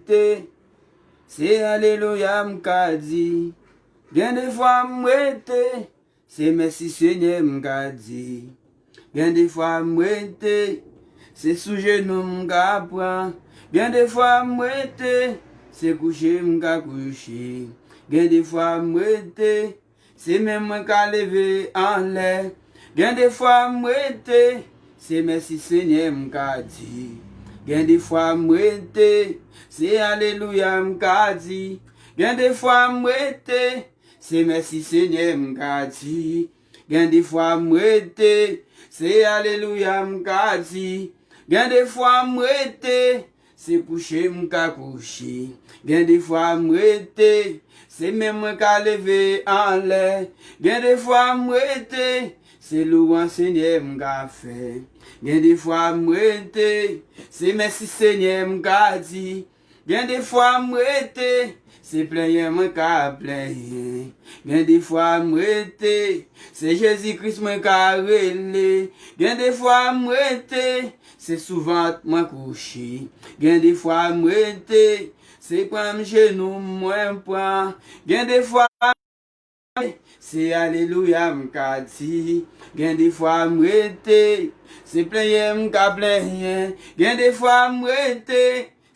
Te, se alelouya m ka di. Gen de fwa m rete, se mèsi Senyè m ka di. Gen de fwa m rete, se sou jenou m ka pran. Gen de fwa m rete, se kouche m ka kouche. Gen de fwa m rete. Se men mwen ka leve anlè. Gen de fwa m rete. Se mèsi Senyè m ka di. Gen de fwa m rete. Se alelouya m ka di. Gen de fwa m rete. Se mèsi Senyè m ka di. Gen de fwa m rete. Se alelouya m ka di. Gen de fwa m rete. Se kouche m ka kouche, gen de fwa m rete, se men mwen ka leve anlè, gen de fwa m rete, se louwanj Senyè m ka fè, gen de fwa m rete, se mèsi Senyè m ka di, gen de fwa m rete, se plenyen mwen ka plenyen, gen de fwa m rete, se Jezi Kris mwen ka rele, gen de fwa m rete, Se souvant mwen kouche. Gen de fwa m rete. Se pran m jenou m mwen pran. Gen de fwa m rete. Se alelouya m ka di. Gen de fwa m rete. Se plenyen m ka plenyen. Gen de fwa m rete.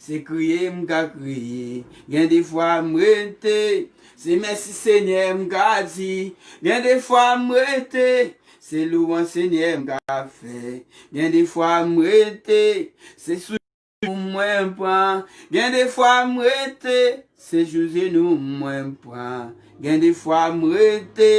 Se kriye m ka kriye, gen de fwa m rete, se mèsi Senyè m ka di, gen de fwa m rete, se louwanj Senyè m ka fè, gen de fwa m rete, se sou jenou m mwen pran, gen de fwa m rete, se sou jenou m mwen pran, gen de fwa m rete,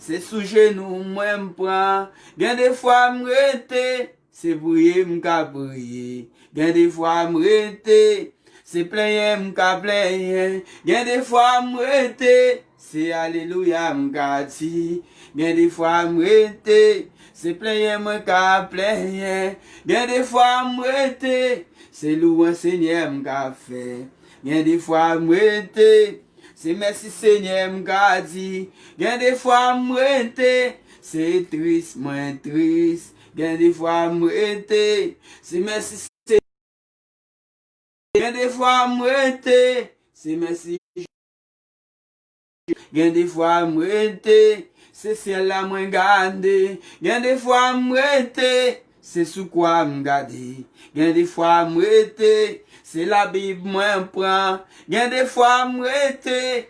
se sou jenou m mwen pran, gen de fwa m rete. Se priye m ka priye. Gen de fwa m rete. Se plenyen m ka plenyen. Gen de fwa m rete. Se alelouya m ka di. Gen de fwa m rete. Se plenyen mwen ka plenyen. Gen de fwa m rete. Se louwanj Senyè m ka fè. Gen de fwa m rete. Se mèsi Senyè m ka di. Gen de fwa m rete. Se tris mwen tris. Gen de fwa m rete, se mèsi Senyè Gen de fwa m rete, se mèsi Gen de fwa m rete, se syèl la mwen gade Gen de fwa m rete, se sou kwa m gade Gen de fwa m rete, se labib mwen pran Gen de fwa m rete,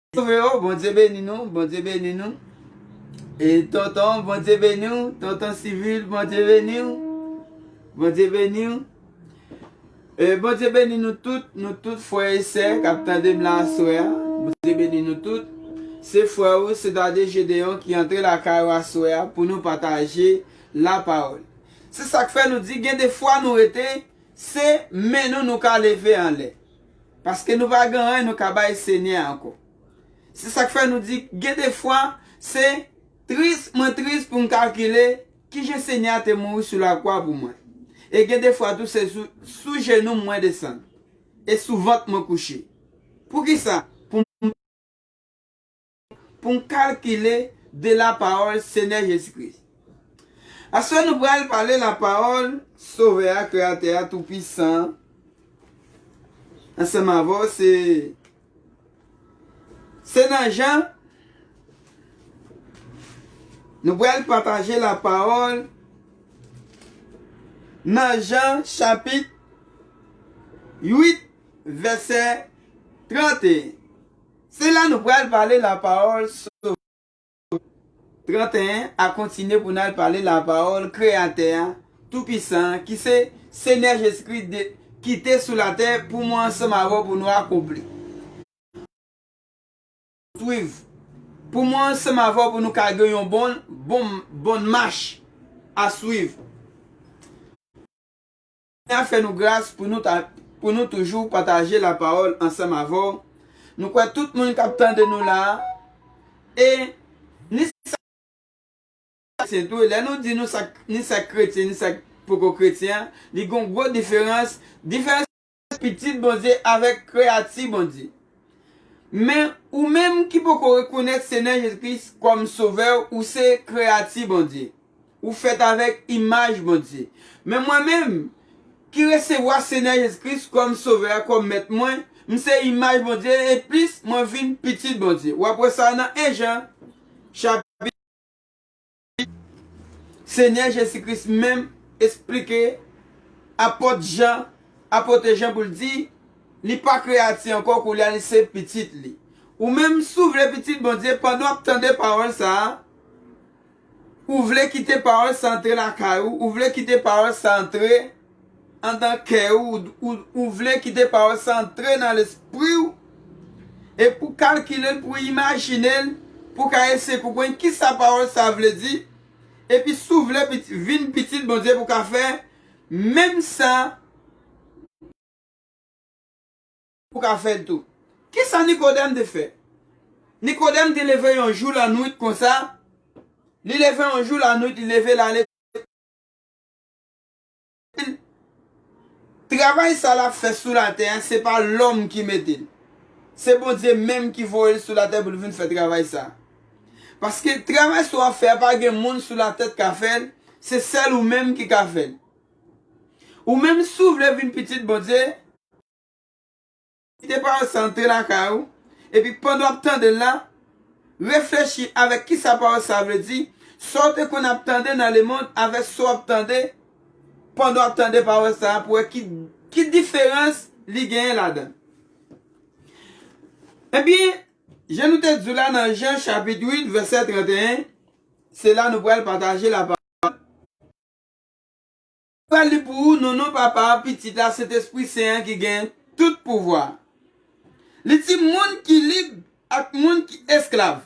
Zanmi yo bondye beni nou bondye beni nou e tonton bondye beni w tonton civil bondye beni w bondye beni w e bondye beni nou tout nou tout frè e sè kap tande m la aswè a bondye beni nou tout se frè ou Cedade Gedeon ki antre lakay ou aswè a pou nou pataje la pawòl se sak fè nou di gen de fwa nou rete se men nou nou ka leve anlè Paske nou pa gen anyen nou ka bay Senyè a ankò. Se sa k fè nou di gen de fwa se tris mwen tris pou m kalkile ki jan Senyè a te mouri sou lakwa pou mwen. E gen de fwa tou se sou jenou m mwen desann e sou vant mwen kouche. Poukisa? Pou m. pou n kalkile de lapawòl Senyè Jezi Kris. Aswè nou pral pale lapawòl Sovè a, Kreyatè a, Toupisan an, ansanm avè w. Se Se nan Jan Nou pral pataje lapawòl nan Jan chapit 8 vèsè 31. Se la nou pral pale lapawòl Sovè a. 31, a kontinye pou n al pale lapawòl Kreyatè a, Toupisan an, ki se Senyè Jezikri de, kite sou latè pou mwen ansanm avè w pou nou akonpli. Swiv. Pou mwen ansanm avè w pou nou ka gen yon bon, bon, bon mach a swiv. Seigneur fè nou gras pou nou ta pou nou toujou pataje la parole ansanm avè w nou kwè tout moun kap tande nou la e ni sa kretyen tou lè nou di nou sa ni sa kretyen ni sa poko kretyen li gon gwo diferans diferans pitit Bondye avèk kreyati Bondye men ou menm ki poko rekonèt Seigneur Jésus Christ kòm sovè w ou se kreyati Bondye. Ou fèt avèk imaj Bondye. Men mwen menm, ki resevwa Senyè Jezi Kris kòm Sovè a, kòm Mèt mwen, m se imaj Bondye e plis mwen vin pitit Bondye. W ap wè sa nan 1 Jan chapit 1 vèsè 8. Senyè Jezi Kris menm esplike Apòt Jan, Apote Jan pou l di, Li pa kreyati ankò, koulye a li se pitit li. Ou menm, si w vle pitit Bondye, pandan w ap tande pawòl sa a, Ou vle kite pawòl sa antre lakay ou, ou vle kite pawòl sa antre andan kè ou, ou vle kite pawòl sa antre nan lespri ou, e pou kalkile l, pou imajine l, pou w ka eseye konprann ki sa pawòl sa vle di, epi si w vle vin pitit Bondye pou w ka fè menm sa. pou ka fè l tou. Ki sa Nikodèm te fè? Nikodèm te leve yon jou lannwit konsa, li leve yon jou lannwit, li leve l ale. Travay sa l ap fè sou latè a, se pa lòm ki mete l. Se Bondye menm ki voye l sou latè pou l vin fè travay sa a. Paske travay sa w ap fè a pa gen moun sou latè k ka fè l, se sèl ou menm ki ka fè l. Ou menm si w vle vin pitit Bondye, Kite pawòl sa antre lakay ou, epi pandan w ap tande l la, reflechi avèk ki sa pawòl sa vle di, sa w te konn ap tande nan lemonn avèk sa w ap tande pandan w ap tande pawòl sa a pou w wè ki diferans li genyen ladan l. Ebyen, jan nou te di w la nan Jan chapit 8 vèsè 31, se la nou pral pataje lapawòl. Pral li pou ou non non papa a pitit la sentespri sen an ki gen tout pouvwa li di moun ki lib ak moun ki esklav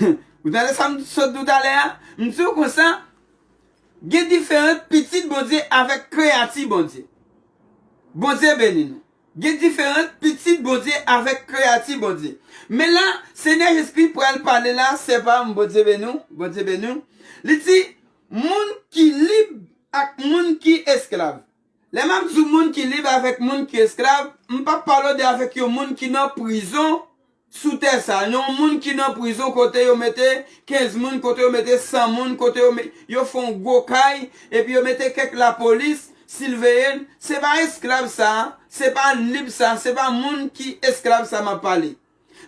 ou tande sa m sot di w talè a m di w konsa gen diferant pitit bondye avèk kreyati bondye bondye beni nou gen diferant pitit bondye avèk kreyati bondye men la senyè jezkri pral pale la sè pa m bondye beni w bondye beni w li di Moun ki lib ak moun ki esklav. Lè m ap di w moun ki lib avèk moun ki esklav, m p ap pale w de avèk yon moun ki nan prizon sou tè sa a, yon moun ki nan prizon kote yo mete 15 moun, kote yo mete 100 moun, kote yo met, yo fè yon gwo kay, epi yo mete kèk lapolis silveye l, se pa esklav sa a, se pa lib sa a, se pa moun ki esklav sa a m ap pale.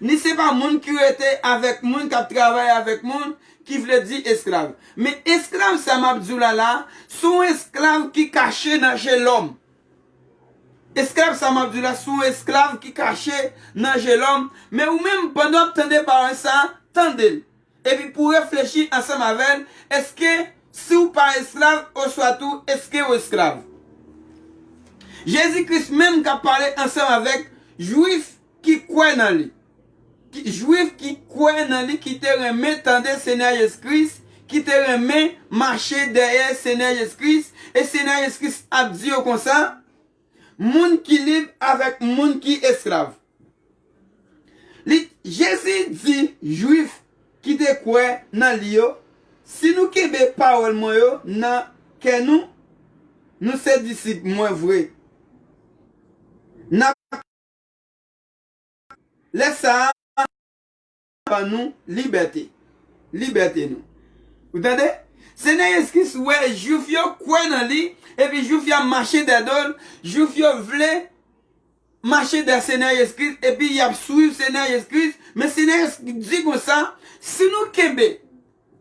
Ni se pa moun ki rete avèk moun k ap travay avèk moun ki vle di esklav. Men esklav sa m ap di w la la, se yon esklav ki kache nan je lòm. Esklav sa m ap di w la, se yon esklav ki kache nan je lòm. Men ou menm, pandan w ap tande pawòl sa, tande l. Epi pou w reflechi ansanm avè l, èske si w pa esklav oswa tou èske w esklav? Jezi Kris menm k ap pale ansanm avèk Juif, Ki kwè nan li. Jwif ki kwè nan li ki te renmen tande Senyè Jezi Kris, ki te renmen mache dèyè Senyè Jezi Kris, e Senyè Jezi Kris ap di yo konsa, Moun ki lib avèk moun ki esklav. Li, Jezi di Jwif ki te kwè nan li yo, Si nou kenbe pawòl mwen yo nan kè nou, nou se disip mwen vre. N ap. Lè sa a, Bondye ka ban nou libète, libète nou. Ou tande? Senyè Jezi Kris wè Juif yo kwè nan li, epi Juif yo ap mache dèyè do l, Juif yo vle mache dèyè Senyè Jezi Kris, epi y ap suiv Senyè Jezi Kris, men Senyè Jezi Kris di konsa, Si nou kenbe.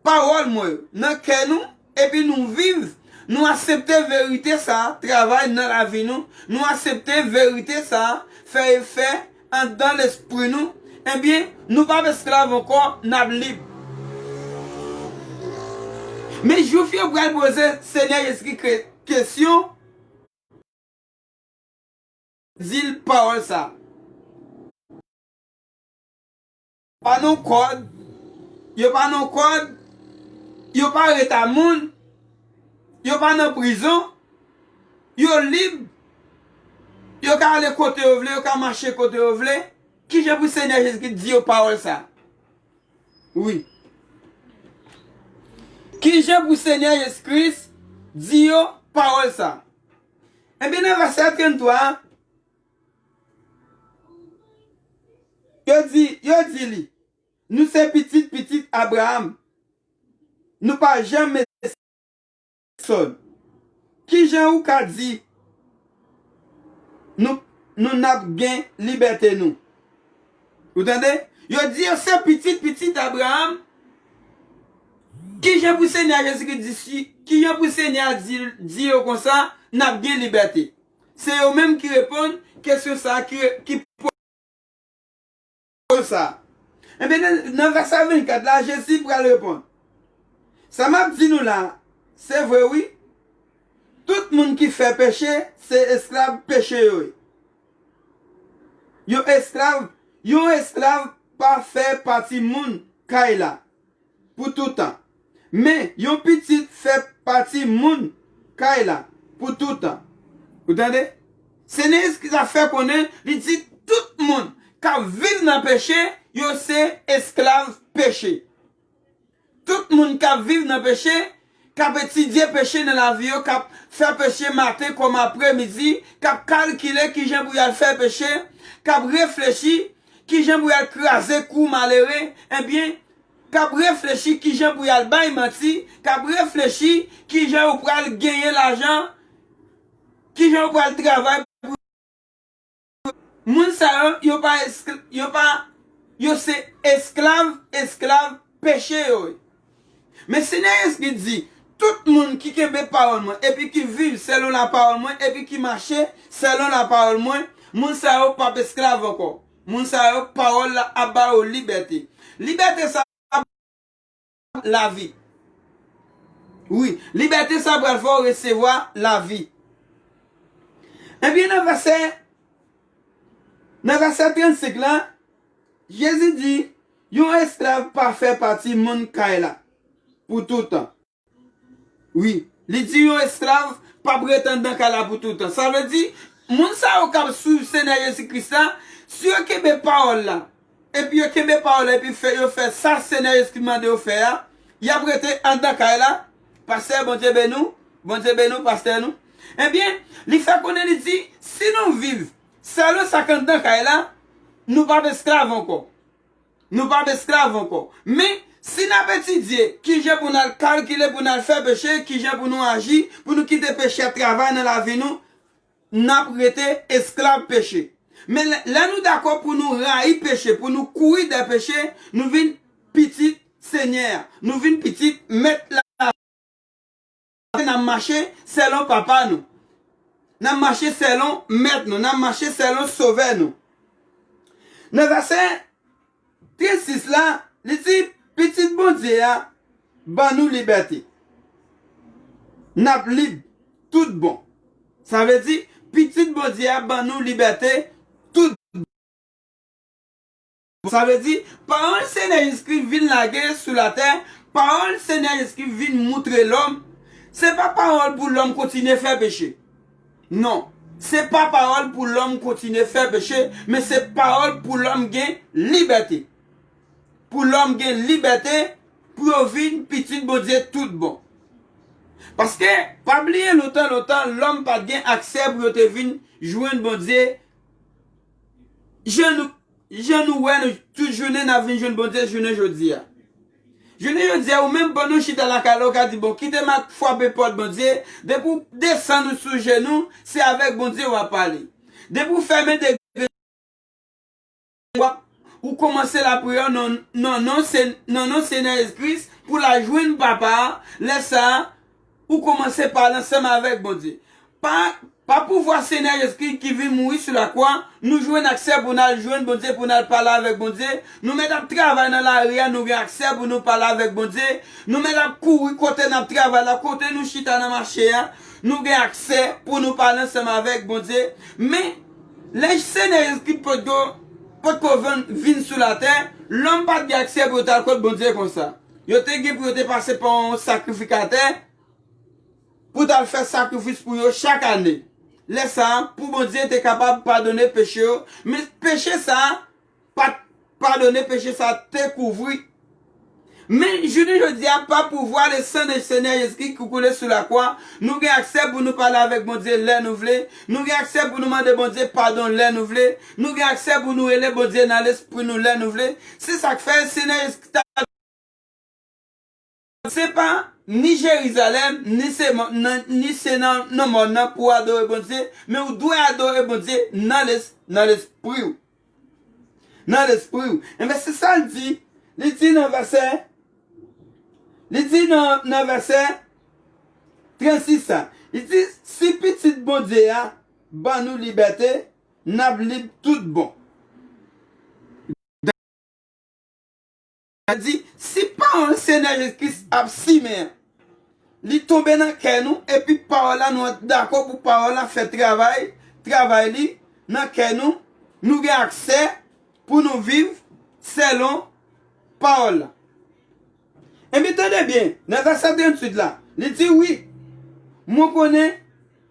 Pawòl mwen yo nan kè nou epi nou viv, nou asepte verite sa a travay nan lavi nou, nou asepte verite sa a fè efè anndan lespri nou, ebyen, nou p ap esklav ankò, n ap lib. Men Juif yo pral poze Senyè Jezikri kesyon, di l pawòl sa a. Pa non kòd, yo pa non kòd, yo pa reta moun, yo pa nan prizon, yo lib, yo ka ale kote yo vle, yo ka mache kote yo vle, ki jan pou Senyè Jezikri di yo pawòl sa? Wi. Ki jan pou Senyè Jezi Kris di yo pawòl sa? Enben nan vèsè 33 a. Yo di, yo di li, Nou se pitit pitit Abraam, nou pa janmen sèvi pèsòn. Ki jan ou ka di nou, nou n ap gen libète nou? Ou tande? Yo di yo se pitit pitit Abraam, ki jan pou Senyè a Jezikri di, ki jan pou Senyè a di yo konsa, n ap gen libète? Se yo menm ki reponn kesyon sa a ki poze kesyon sa a. Enben, nan vèsè 24 la, Jezi pral reponn, Sa m ap di nou la a, se vre wi, tout moun ki fè peche se esklav peche yo ye. Yon esklav pa fè pati moun kay la. pou toutan. Men, yon pitit fè pati moun kay la pou toutan. Ou tande? Senyè Jezi Kris la fè konnen, li di tout moun k ap viv nan peche, yo se esklav peche. Tout moun k ap viv nan peche, k ap etidye peche nan lavi yo, k ap fè peche maten kòm apre midi, k ap kalkile kijan pou y al fè peche, k ap reflechi kijan pou y al kraze kou malere, ebyen, k ap reflechi kijan pou y al bay manti, k ap reflechi kijan yo pral genyen lajan, kijan yo pral travay pou. Moun sa yo, yo pa eskl, yo pa, yo se esklav, esklav peche yo. Men Senyè Yezki di, Tout moun ki kenbe pawòl mwen epi ki viv selon lapawòl mwen epi ki mache selon lapawòl mwen, moun sa yo pap esklav ankò. Moun sa yo, pawòl la ap ba yo libète. Libète sa a. lavi. Wi, libète sa pral fè w resevwa lavi. Ebyen nan vèsè, nan vèsè 35 la, Jezi di, yon esklav pa fè pati moun kay la pou toutan. Wi, li di yon esklav p ap ret anndan kay la pou toutan. Sa vle di, moun sa yo k ap suiv Senyè Jezi Kris la, si yo kenbe pawòl la, epi yo kenbe pawòl la epi fè yo fè sa Senyè Jezikri mande yo fè a, yap rete anndan kay la, Pastè Bondye beni w, Bondye beni w pastè nou. Ebyen, li fè konnen li di, si nou viv sèlman sa k anndan kay la, nou pap esklav ankò. Nou pap esklav ankò. Men, si nap etidye kijan pou nal kalkile pou nal fè peche, kijan pou nou aji, pou nou kite peche a travay nan lavi nou, n ap rete esklav peche. Men, lè nou dakò pou nou rayi peche, pou nou kouri dèyè peche, nou vin pitit Senyè a, nou vin pitit Mèt lavi a, paske n ap mache selon Papa nou, n ap mache selon Mèt nou, n ap mache selon Sovè nou. Nan vèsè. Tret 6 la, li di, Pitit Bondye a ban nou libète. N ap lib tout bon. Sa vle di, Pitit Bondye a ban nou libète tout bon. Sa vle di, pawòl Senyè Jezikri vin lage sou latè, pawòl Senyè Jezikri vin moutre lòm, se pa pawòl pou lòm kontinye fè peche. Non. Se pa pawòl pou lòm kontinye fè peche, men se pawòl pou lòm gen libète. Pou lòm gen libète pou yo vin pitit Bondye tout bon. Paske, pa bliye lontan lontan lòm pa t gen aksè pou yo te vin jwenn Bondye jan nou wè nou tout jounen n ap vin jwenn Bondye jounen jodi a. Jounen jodia ou menm pandan w chita lakay la ou ka di bon kite ma fwape pòt Bondye, depi w desann ou sou jenou se avèk Bondye wap pale. Depi w fèmen de grenn je w wap ou kòmanse lapriyè w nan non Senyè Jezi Kris pou la jwenn papa a lè sa a Ou komanse pale ansanm avèk Bondye. Pa Pa pouvwa Senyè Jezikri ki vin mouri sou lakwa, nou jwenn aksè pou n al jwenn Bondye pou n al pale avèk Bondye, nou mèt ap travay nan lari a nou gen aksè pou nou pale avèk Bondye, nou mèt ap kouri kote n ap travay la, kote nou chita nan mache a, nou gen aksè pou nou pale ansanm avèk Bondye. Men, lè Senyè Jezikri potko potko vin sou latè, lòm pa t gen aksè pou yo t al kot Bondye konsa. Yo te gen pou yo te pase pa yon sakrifikatè pou t al fè sakrifis pou yo chak ane. Lè sa a, pou Bondye te kapab padone peche yo, men peche sa a pa t padone, peche sa a te kouvri. Men, jounen jodi a, pa pouvwa lesan de Senyè Jezikri ki koule sou lakwa, nou gen aksè pou nou pale avèk Bondye lè nou vle, nou gen aksè pou nou mande Bondye padon lè nou vle, Nou gen aksè pou nou rele Bondye nan lespri nou lè nou vle. Se sa k fè, Senyè Jezi Kris ta dwe vini. Se pa ni Jerizalèm, ni se mòn nan, ni se nan nan mòn nan pou w adore Bondye, men ou dwe adore Bondye nan lespri ou. Nan lespri ou. Enben, se sa l di. Li di nan vèsè, li di nan vèsè 36 la, li di, Si Pitit Bondye a ban nou libète, N ap lib tout bon. Dayè, si pawòl Senyè Jezi Kris ap simen an, li tonbe nan kè nou, epi pawòl la nou dakò pou pawòl la fè travay travay li nan kè nou, nou gen aksè pou nou viv selon pawòl la. Enben, tande byen, nan vèsè 38 la, li di, Wi, mwen konnen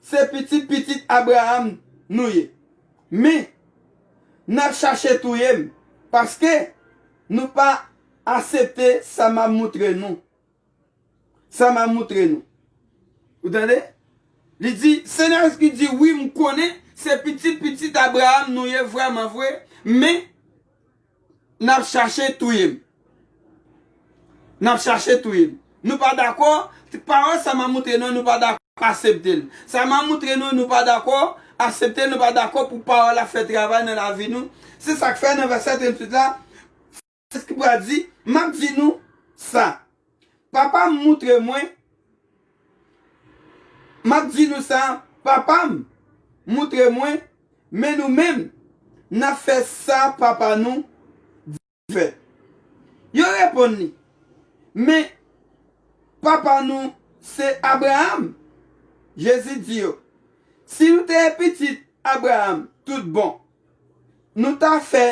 se pitit pitit Abraram nou ye, men, n ap chache touye m, paske, nou pa asepte sa m ap moutre nou, sa m ap moutre nou. Ou tande? Li di, Se nan vèsè ki di, Wi, m konnen se pitit pitit Abraram nou ye vrèman vre, men, Nap chache touye m. Nap chache touye m. Nou pa dakò, pawòl sa map moutre nou nou pa dakò asepte l. Sa map moutre nou nou pa dakò asepte l, nou pa dakò pou pawòl la fè travay nan lavi nou. Se sak fè nan vèsè 38 la, Frans ki pral di, map di nou sa, Papa m moutre mwen M ap di nou sa Papa m moutre mwen Men nou menm n ap fè sa papa nou di n fè Yo reponn li Men papa nou se Abraam Jezi di yo Si nou te pitit Abraam toutbon nou ta fè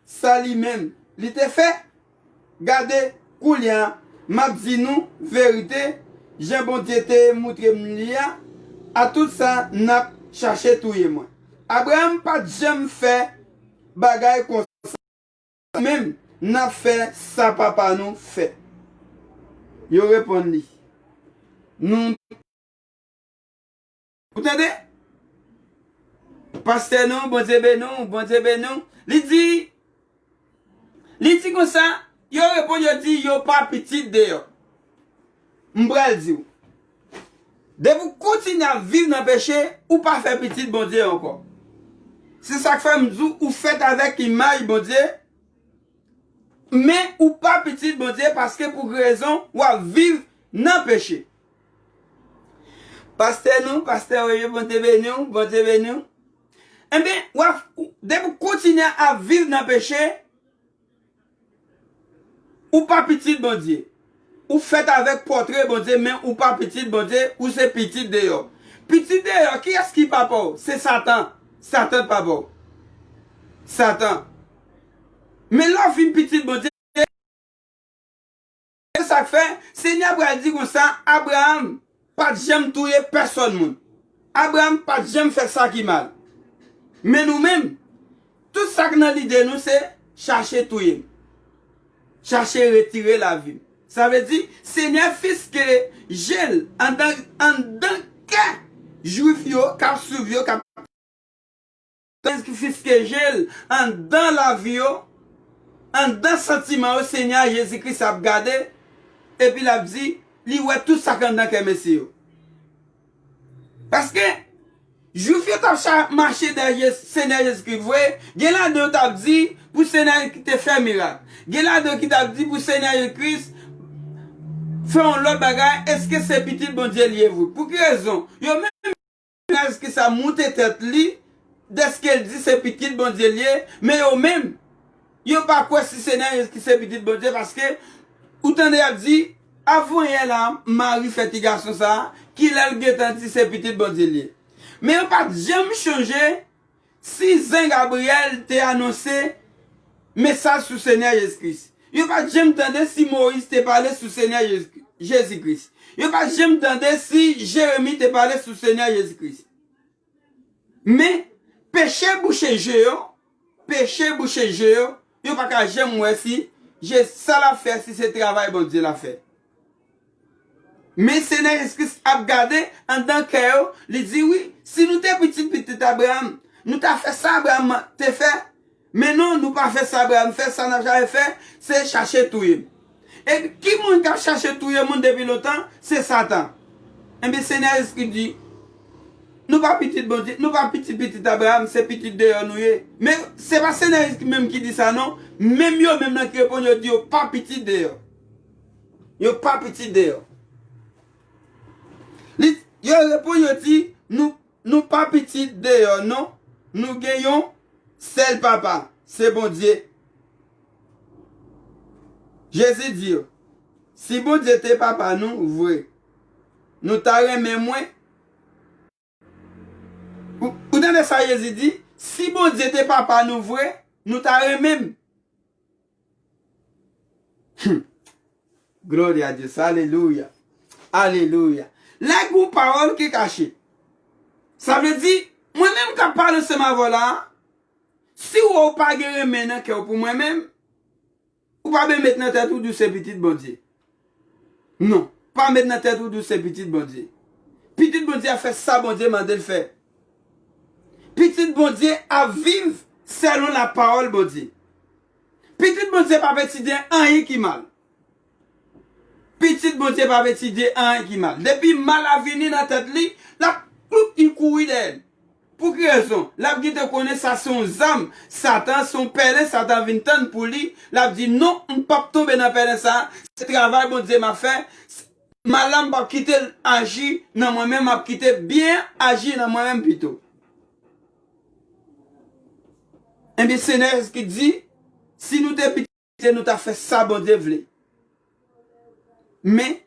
Sa li menm li te fè? Gade, koulye a, m ap di nou verite, jan Bondye te moutre m li a, atout sa n ap chache touye mwen. Abraram pa t janm fè bagay konsa. Nou menm, n ap fè sa papa nou fè. Yo reponn li, Nou. Ou tande? Pastè nou, Bondye beni w, Bondye beni w. Li di, li di konsa, yo reponn yo di yo pa pitit de yo. M pral di w, depi w kontinye ap viv nan peche, ou pa fè pitit Bondye ankò. Se sa k fè m di w ou fèt avèk imaj Bondye, men ou pa pitit Bondye paske pou ki rezon w ap viv nan peche. Pastè nou, pastè Oye, Bondye beni w, Bondye beni w. Enben, wap, depi w kontinye ap viv nan peche, ou pa pitit Bondye. Ou fèt avèk pòtre Bondye men ou pa pitit Bondye, ou se pitit deyò. Pitit deyò, kiyès ki papa w? Se Satan. Satan papa w. Satan. Men lè w vin pitit Bondye, Se sa k fè, Senyè a pral di konsa, Abraram pa t janm touye pèsòn moun. Abraram pa t janm fè sa ki mal. Men nou menm, tout sa k nan lide nou se chache touye m, chache retire lavi m. Sa vle di, Senyè fiske je l anndan kè Juif yo k ap suiv yo, k ap. Pèsonn ki fiske je l anndan lavi yo, anndan santiman yo, Senyè a, Jezi Kris, ap gade, epi l ap di, li wè tout sa k anndan kè mesye yo. Paske, Juif yo t ap mache dèyè Senyè Jezi Kris vre, gen ladan yo t ap di, pou Senyè Jezi Kris te fè mirak. Gen ladan yo ki t ap di pou Senyè Jezi Kris fè yon lòt bagay, èske se Pitit Bondye li ye vre? Pou ki rezon? Yo menm. Naj ki sa moute tèt li dèske l di se Pitit Bondye l ye, men yo menm, yo pa kwè si se Naj ki se Pitit Bondye paske ou tande y ap di, Avanyè la, Mari fè ti gason sa a, kilè l gentan di se Pitit Bondye l ye? Men yo pa t janm chonje Si Zen Gabriel te anonse Mesaj sou Senyè Jezi Kris, yo pa t janm tande si Moyiz te pale sou Senyè Jezi Kris, yo pa t janm tande si Jeremi te pale sou Senyè Jezi Kris. Men, peche bouche je yo, peche bouche je yo, yo pa ka janm wè si Jezi, sa l ap fè si se travay Bondye l ap fè. Men se nèg Jezikris ap gade anndan kè yo, li di, Wi, si nou te pitit pitit Abraram, nou ta fè sa Abraram te fè. Men non, nou pa fè sa Abraram fè, sa n ap chache fè, se chache touye m. Epi, ki moun k ap chache touye moun depi lontan? Se Satan. Enben, Senyè Jezikris di, Nou pa pitit Bondye, nou pa pitit pitit Abraram, se pitit deyò nou ye. Men, se pa Senyè Jezikris menm ki di sa non, menm yo menm nan ki reponn yo di yo pa pitit deyò. Yo pa pitit de yo. Yo reponn yo di, Nou pa pitit de yo non, nou gen yon sèl Papa, se Bondye. Jezi di yo, Si Bondye te Papa nou vre, nou ta renmen mwen. Ou tande sa Jezi di, Si Bondye te Papa nou vre, nou ta renmen m. Hum! Gloria a Dios! Alelouya! Alelouya! La gon pawòl ki kache. Sa vle di, mwen menm k ap pale ansanm avè w la a, si w wè w pa gen renmen nan kè w pou mwen menm, Ou pa ben met nan tèt ou di w se pitit Bondye. Non, pa met nan tèt ou di w se pitit Bondye. Pitit Bondye ap fè sa Bondye mande l fè. Pitit Bondye ap viv selon lapawòl Bondye. Pitit Bondye pap etidye anyen ki mal. Pitit Bondye pap etidye anyen ki mal. Depi mal a vini nan tèt li, l ap kloup li kouri dèyè l. Pou ki rezon? L ap gentan konnen sa se yon zam Satan, se yon pèlen Satan vin tann pou li, l ap di, Non, m pap tonbe nan pèlen sa a, se travay Bondye m ap fè, mal la m pap kite l aji nan mwen men m ap kite byen an aji nan mwen menm pito. Ebyen, Senyè Jezikri di, Si nou te pi. Kite nou ta fè sa Bondye vle. Men,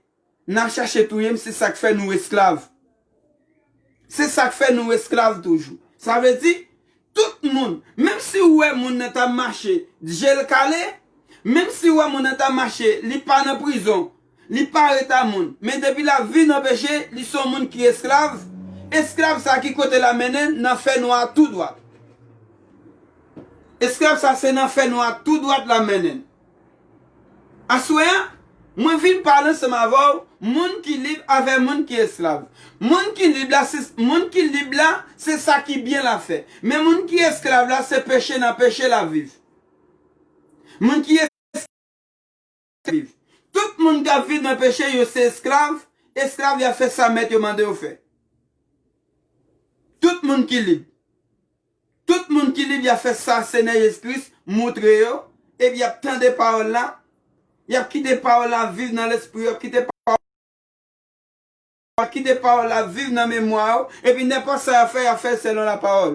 nan chache touye m se sa k fè nou esklav. Se sa k fè nou esklav toujou. Sa vle di, tout moun, menm si ou wè moun nan ta mache, je l kale, menm si ou wè moun nan ta mache, li pa nan prizon, Li pa reta moun. Men depi l ap viv nan peche, li se yon moun ki esklav, esklav sa a ki kote l ap mennen l? Nan fènwa a tou dwat. Esklav sa a se nan fènwa a tou dwat l ap mennen l. Aswè a, mwen vin pale ansanm avè w, moun ki lib avè moun ki esklav. Moun ki lib la se, moun ki lib la, se sa ki byen l ap fè. Men moun ki esklav la, se peche nan peche l ap viv. Moun ki. viv. Tout moun k ap viv nan peche, yo se esklav, esklav y ap fè sa mèt yo mande yo fè. Tout moun ki lib. Tout moun ki lib y ap fè sa Senyè Jezi Kris moutre yo, epi y ap tande pawòl la, y ap kite pawòl la viv nan lespri yo, y ap kite pawòl la. Pa kite pawòl la viv nan memwa ou, epi nenpòt sa y ap fè, y ap fè l selon lapawòl.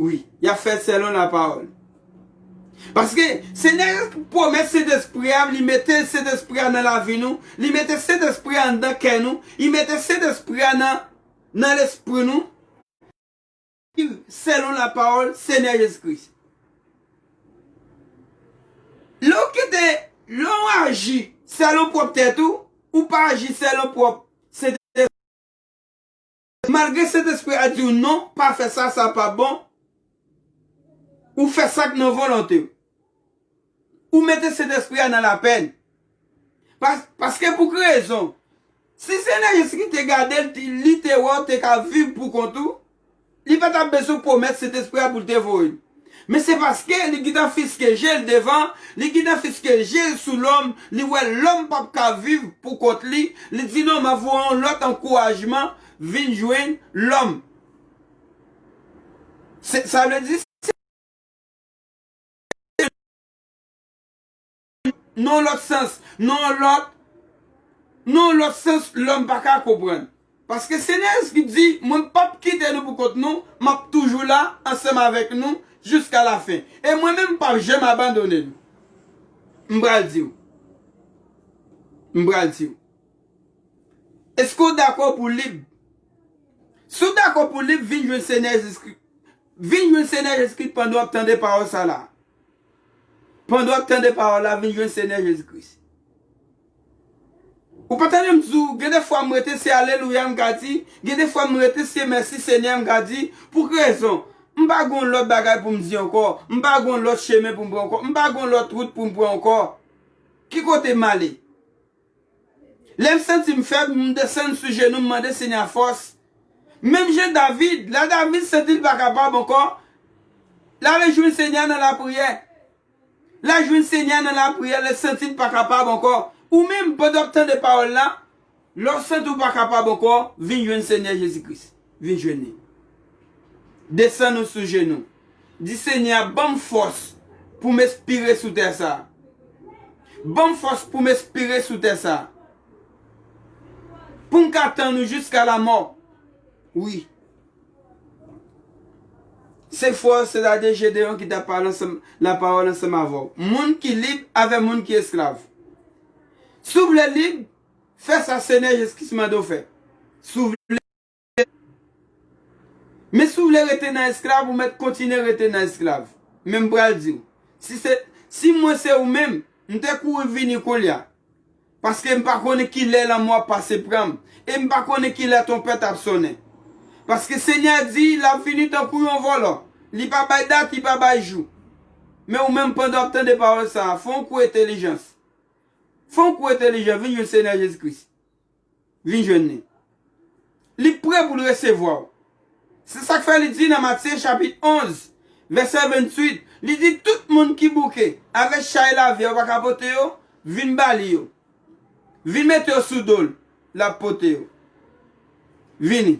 Wi, y ap fè l selon lapawòl. Paske, Senyè a pwomèt Sentespri a, li mete Sentespri a nan lavi nou, li mete Sentespri a anndan kè nou, li mete Sentespri a nan lespri nou. Viv selon la pawol senye jezi kris. Lè w kite, lè w aji selon pwòp tèt ou, ou pa aji selon pwòp Sentespri a. Malgre Sentespri a di w non, pa fè sa, sa pa bon, ou fè sa k nan volonte w. Ou mete Sentespri a nan lapenn. Paske pou ki rezon? Si Senyè Jezikri te gade l, li te wè w te ka viv poukont ou, li pa t ap bezwen pwomèt Sentespri a pou l te voye l. Men se paske li gentan fiske je l devan, li gentan fiske je l sou lòm, li wè lòm p ap ka viv poukont li, li di non m ap voye yon lòt ankourajman vin jwenn lòm. Sa vle di se. Nan lòt sans, nan lòt, nan lòt sans lòm pa ka konprann. Paske Senyè Jezi Kris di, mwen p'ap kite nou pou kont nou, m'ap toujou la ansanm avèk nou jiska lafen. E mwen menm m'p'ap janm abandone nou. M pral di w. M pral di w. Èske w dakò pou w lib? Si w dakò pou w lib, vin jwenn Senyè Jezi Kris. Vin jwenn Senyè Jezikri pandan wap tande pawòl sa la. Pandan wap tande pawòl la vin jwenn Senyè Jezikris. Ou pa tandem di w gen de fwa m rete se alelouya m ka di, gen de fwa m rete se mèsi Senyè m ka di, pou k rezon, m pa gon lòt bagay pou m di ankò, m pa gon lòt chemen pou m pran ankò, m pa gon lòt wout pou m pran ankò. Ki kote m ale? Lè m santi m fèb, m desann sou jenou m mande Senyè a fòs. Menm jan David, lè David santi l pa kapab ankò, l ale jwenn Senyè a nan lapriyè. L al jwenn Senyè a nan lapriyè lè l santi l pa kapab ankò. Ou menm, pandan w ap tande pawòl la, lè w santi w pa kapab ankò, vin jwenn Senyè Jezi Kris. vin jwenn li. Desann ou sou jenou. Di Senyè a, ban m fòs pou m espire sou tè sa. Ban m fòs pou m espire sou tè sa. Pou m ka tann ou jiska lamò. Wi. Se fwa w, sètadi Jedeon ki t ap pale ansanm, lapawòl ansanm avè w. Moun ki lib avè moun ki esklav. Si w vle lib, fè sa Senyè Jezi Kris mande w fè. Si w vle. Men si w vle rete nan esklav, ou mèt kontinye rete nan esklav. Men m pral di w, si se, si mwen se ou menm, m te kouri vini koulye a. Paske m pa konnen ki lè lanmò ap pase pran m, e m pa konnen ki lè twonpèt ap sonnen. Paske Senyè a di, l ap vini tankou yon vòlò, li pa bay dat, li pa bay jou. Men ou menm, pandan w ap tande pawòl sa a, fè yon kou entelijans. Fè yon kou entelijan, vin jwenn Senyè Jezi Kris. Vin jwenn li. Li pre pou l resevwa w. Se sa k fè li di nan Matye chapit 11, vèsè 28, li di, Tout moun ki bouke avèk chay lavi a ou pa ka pote yo, vin ba li yo. Vin mete yo sou do l, l ap pote yo. Vini.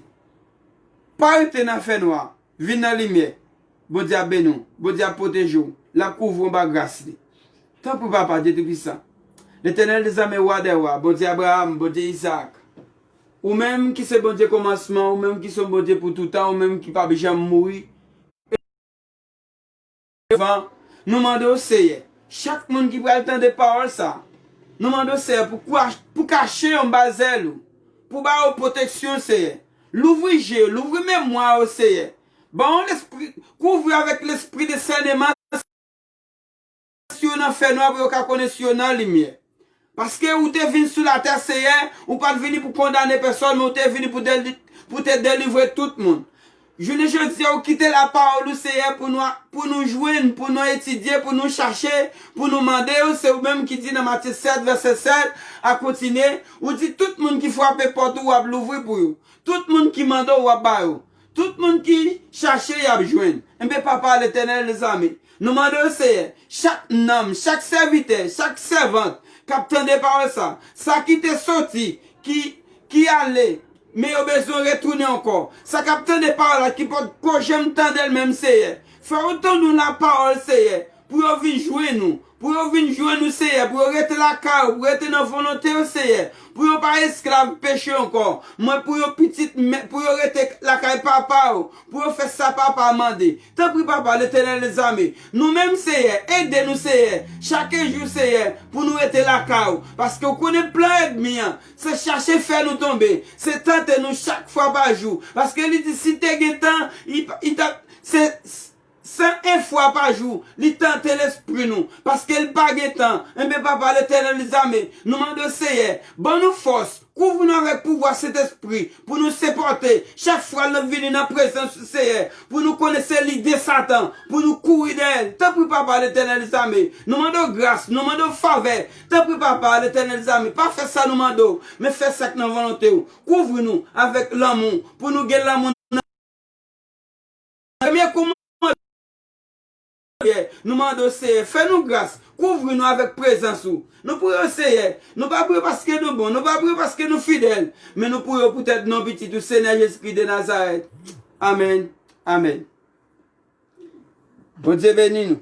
Pa rete nan fènwa a. Vin nan limyè. Bondye ap beni w. Bondye ap pwoteje w. L ap kouvri w anba gras li. Tanpri Papa Dye Toupisan, Letènèl dezame, Wa dè wa, Bondye Abraram, Bondye Izaak, Ou menm ki se Bondye kòmansman, Ou menm ki se yon Bondye pou toutan, Ou menm ki pap janm mouri, Devan, nou mande w, Seyè, chak moun ki pral tande pawòl sa a, nou mande w, Seyè, pou pou kache yo anba zèl ou, pou ba yo pwoteksyon, Seyè. Louvri je yo, louvri memwa yo, Seyè. Ban yo lespri, kouvri yo avèk lespri desèneman, si yo nan fènwa pou yo ka konnen si yo nan limyè. Paske ou te vin sou latè, Seyè, ou pa t vini pou kondane pèsòn, men ou te vini pou w te delivre tout moun. Jounen jodi a, ou kite lapawòl ou, Seyè, pou nou jwenn, pou nou etidye, pou nou chache, pou nou mande ou, se ou menm ki di nan Matye 7, vèsè 7 a kontinye, ou di tout moun ki frape pòt ou, ou ap louvri pou yo. Tout moun ki mande w, ou ap ba yo. Tout moun ki chache y ap jwenn. Enben Papa Letènèl dezame, nou mande w Seyè, chak nanm, chak sèvitè, chak sèvant k ap tande pawòl sa, sa ki te soti, ki, ki ale, men yo bezwen retounen ankò, sa k ap tande pawòl la ki potko janm tande l menm Seyè, fè otan nou lapawòl Seyè, Pou yo vin jwenn ou. Pou yo vin jwenn ou, Seyè, pou yo rete lakay ou, pou rete nan volonte ou, Seyè, pou yo pa esklav peche ankò, men pou yo pitit, pou yo rete lakay Papa yo, pou yo fè sa Papa a mande. Tanpri, Papa, Letènèl dezame, nou menm, Seyè, ede nou, Seyè, chake jou, Seyè, pou nou rete lakay ou, paske ou konnen plan èdmi an, se chache fè nou tonbe, se tante nou chak fwa pa jou, paske li di si te gen tan, li, li t ap, se. San en fwa pa jou, li tante lespri nou, paske li pa gen tan, enben Papa Letènèl zame, nou mande w Seyè, ban nou fòs, kouvri nou avèk pouvwa Sentespri, pou nou sipòte, chak fwa nap vini nan prezans ou Seyè, pou nou konnen se lide Satan, pou nou kouri dèyè l, tanpri Papa Letènèl zame, nou mande w gras, nou mande w favè, tanpri Papa Letènèl zame, pa fè sa nou mande w, men fè sak nan volonte w, kouvri nou avèk lanmou, pou nou gen lanmou nan. Premye koumanman Seyè, nou mande w Seyè, fè nou gras, kouvri nou avèk prezans ou. Nou priye w Seyè, nou pa priye paske nou bon, nou pa priye paske nou fidèl, men nou priye w poutèt non pitit ou Senyè Jezikri de Nazarèt. Amèn. Amèn. Bondye beni nou.